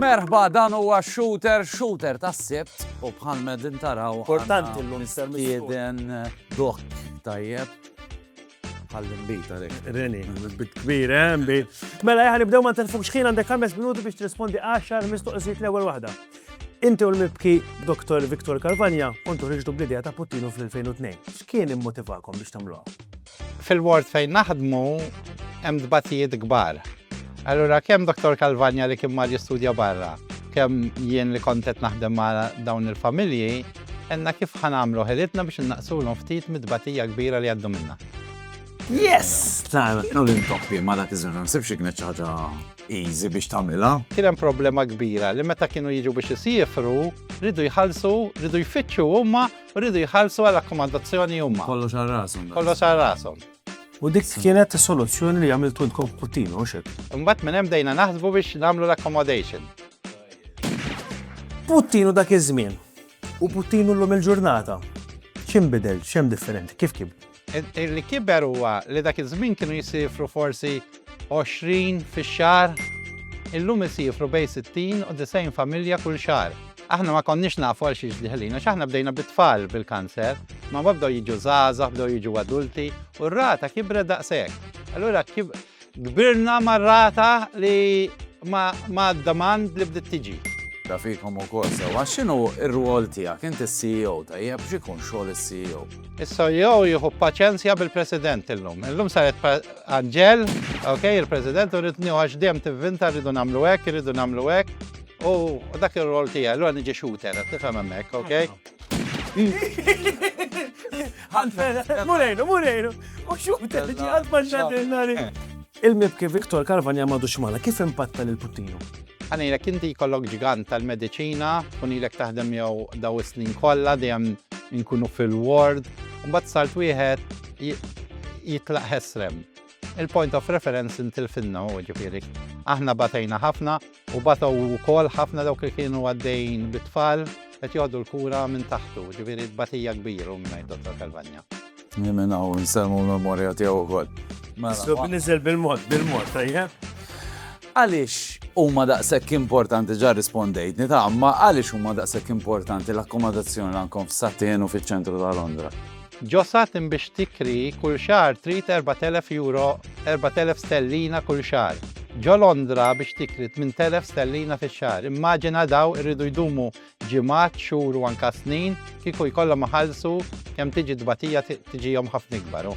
Merħba dan huwa shooter shooter tas-sibt u bħal medin taraw. Importanti l-lum. Mistieden dok tajjeb. Għall-imbita dik. Reni, bit kbir, eh, bit. Mela, jħan nibdew ma telfux xħin għandek 5 minuti biex trispondi 10 mistoqsijiet l-ewwel waħda. Inti u l-mibki Dr. Viktor Kalvanja kontu ħriġtu bl-idea ta' Puttinu fl-2002. X'kien immotivakom biex tagħmluha? Fil-ward fejn naħdmu hemm dbatijiet kbar. Allura kemm Dr. Kalvanja li kien mar jistudja barra, kemm jien li kontet naħdem ma' dawn il-familji, Għenna kif ħa nagħmlu ħelitna biex innaqsulhom ftit mid-tbatija kbira li għaddu minna. Yes! Ta' no l-intoppi ma dak iż-żmien, nsibx kienet xi ħaġa easy biex tagħmilha. Kien hemm problema kbira li meta kienu jiġu biex isiefru, ridu jħallsu, ridu jfittxu huma, ridu jħallsu għal akkomodazzjoni huma. Kollox għal rashom. Kollox għal rashom. U dik kienet soluzzjoni li għamiltu intkom puttinu, u xek. Mbatt minn hemm dejna naħsbu biex nagħmlu l-accommodation. Puttinu dak iż-żmien. U Puttinu llum il-ġurnata? X'inbidel, x'hemm differenti, kif kib? Li kiber huwa li dak iż-żmien kienu jisifru forsi 20 fix-xahar, illum isifru bejn 60 u 90 familja kull xahar. Aħna ma konniex nafu għal xiex diħlin għax aħna bdejna bit-tfal bil-kanser, ma mbagħad bdew jiġu żgħażagħ, bdew jiġu adulti u r-rata kibret daqshekk. Allura Kbirna mar-rata li ma' demand li bdiet tiġi. Ta' fikom ukoll sewwa x'inhu r-rwol tiegħek int is-CEO tajjeb x'ikun xogħol is-CEO? Is-CEO jieħu paċenzja bil-President illum. Illum saret Anġel, ok, il-President u rrid nieħu għax dejjem tivvinta rridu nagħmlu hekk, irridu nagħmlu hekk u dak ir-rwol tiegħi, allura niġi shooter, qed tifhem hemmhekk, ok? Mulejnu, mulejnu. U xuk t-tħiġi għad maġġadinari. Il-mibki Viktor Karvanja madu xmana kif impatta l-puttinu? Għanilek inti kollok ġigant tal-medicina, kunilek taħdem jew daw is-snin kollha dejjem inkunu fil-ward, mbagħad salt wieħed jitlaq ħesrem. Il-point of reference intilfinna u ġifieri. Aħna batejna ħafna U batow ukoll ħafna dawk li kienu għaddejjin bit-tfal qed joħdu l-kura minn taħtu, ġifieri tbatija kbir u ngħid Dottor Calvagna. Jien minn hawn nsemmu l-memorja tiegħu wkoll. Sub niżel bil-mod, bil-mod, tajjeb? Għaliex huma daqshekk importanti ġa rispondejtni ta' ma għaliex huma daqshekk importanti l-akkomodazzjoni l-ankom f'Satien u fiċ-ċentru ta' Londra? Josat imbiex tikri kull xahar trid 4,000 euro, 4,000 stellina kull xahar. Ġo Londra biex tikri 8,000 stellina fix-xahar. Immaġina daw irridu jdumu ġimgħat, xhur u anka snin kieku jkollhom iħallsu kemm tiġi tbatija tiġihom ħafna ikbar hu.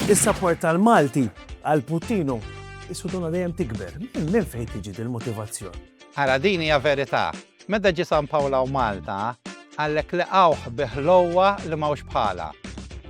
Is-sapport tal-Malti għal Puttinu. Is-suduna dejjem tikber. Minn fejn tiġi dil-motivazzjon? Ara din hija verità. Meta ġie San Pawl hawn Malta, qallek lqgħuh bi ħlowwa li m'hawnx bħalha.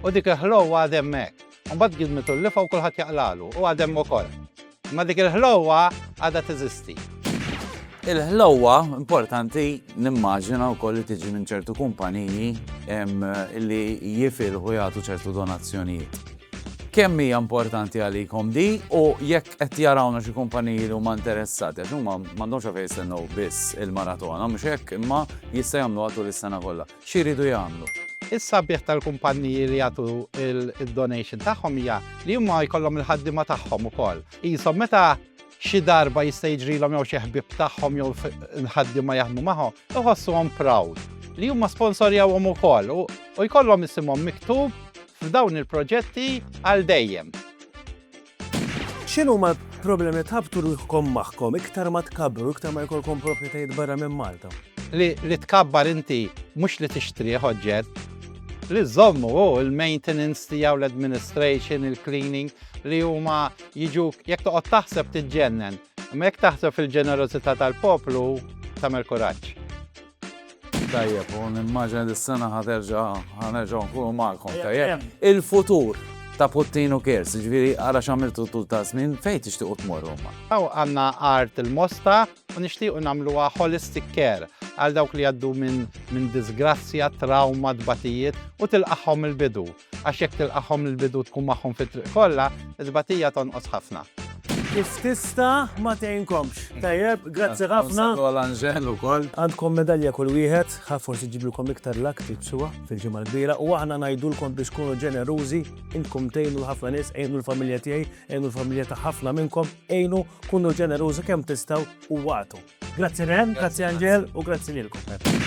U dik il-ħlowwa għad hemmhekk. U mbagħad gidmitu l-lifgħa u kulħadd jaqlagħlu, u għad hemm ukoll. Imma dik il-ħlowwa għadha teżisti. Il-ħlowwa importanti nimmaġina wkoll li tiġi minn ċertu kumpaniji li jifilħu jagħtu ċertu donazzjonijiet. kemm hija importanti għalikom di u jekk qed jarawna xi kumpaniji li huma interessati għax huma m'għandhomx għalfejn jistennew biss il-maratona mhux hekk imma jista' jagħmluha tul is-sena kollha. Xi jridu jagħmlu? Is-sabiħ tal-kumpaniji li jagħtu d-donation tagħhom hija li huma jkollhom il-ħaddiema tagħhom ukoll. Qishom meta xi darba jista' jiġrilhom jew xi ħbieb tagħhom jew nħaddiema jaħdmu magħhom, iħossuhom proud li huma sponsorjawhom ukoll u jkollhom isimhom miktub f'dawn il-proġetti għal dejjem. X'inhu ma problemi tħabtu ruħkom magħhom iktar ma tkabbru, iktar ma jkollkom proprjetajiet barra minn Malta? Li, li tkabbar inti mhux li tixtrih oġġett, li żommu u l-maintenance tiegħu l-administration, il-cleaning li huma Jiġuk, jekk toqgħod taħseb tiġġennen, imma jekk taħseb fil-ġenerożità tal-poplu tagħmel kuraġġ. Tajjeb, u nimmaġina li s-sena ħaterġa ħanerġa nkunu magħkom tajjeb. Il-futur ta' Puttinu Kers, ġviri għara xamiltu tul ta' snin fejn tixtiqu tmorru ma. Aw għanna art il-mosta u nixtiequ nagħmluha holistic care għal dawk li għaddu minn disgrazzja, trauma, tbatijiet u tilqaħħom il-bidu. Għax jekk tilqagħhom mill-bidu u tkun magħhom fit-triq kollha, it-tbatija tonqos ħafna. Kif tista' ma tgħinkomx. Tajjeb, grazzi ħafna. Nsallu għal Anġel ukoll. Għandkom medalja kull wieħed, ħa forsi ġġiblkom iktar luck tibsuha fil-Ġimgħa l-Kbira u aħna ngħidulkom biex tkunu ġenerużi, intkom tgħinu l ħafna nies, għinu l-familja tiegħi, għinu l-familja ta' ħafna minnkom, għinu, kunu ġenerużi kemm tistgħu u wagħtu. Grazzi Ren, grazzi Anġel u grazzi lilkom.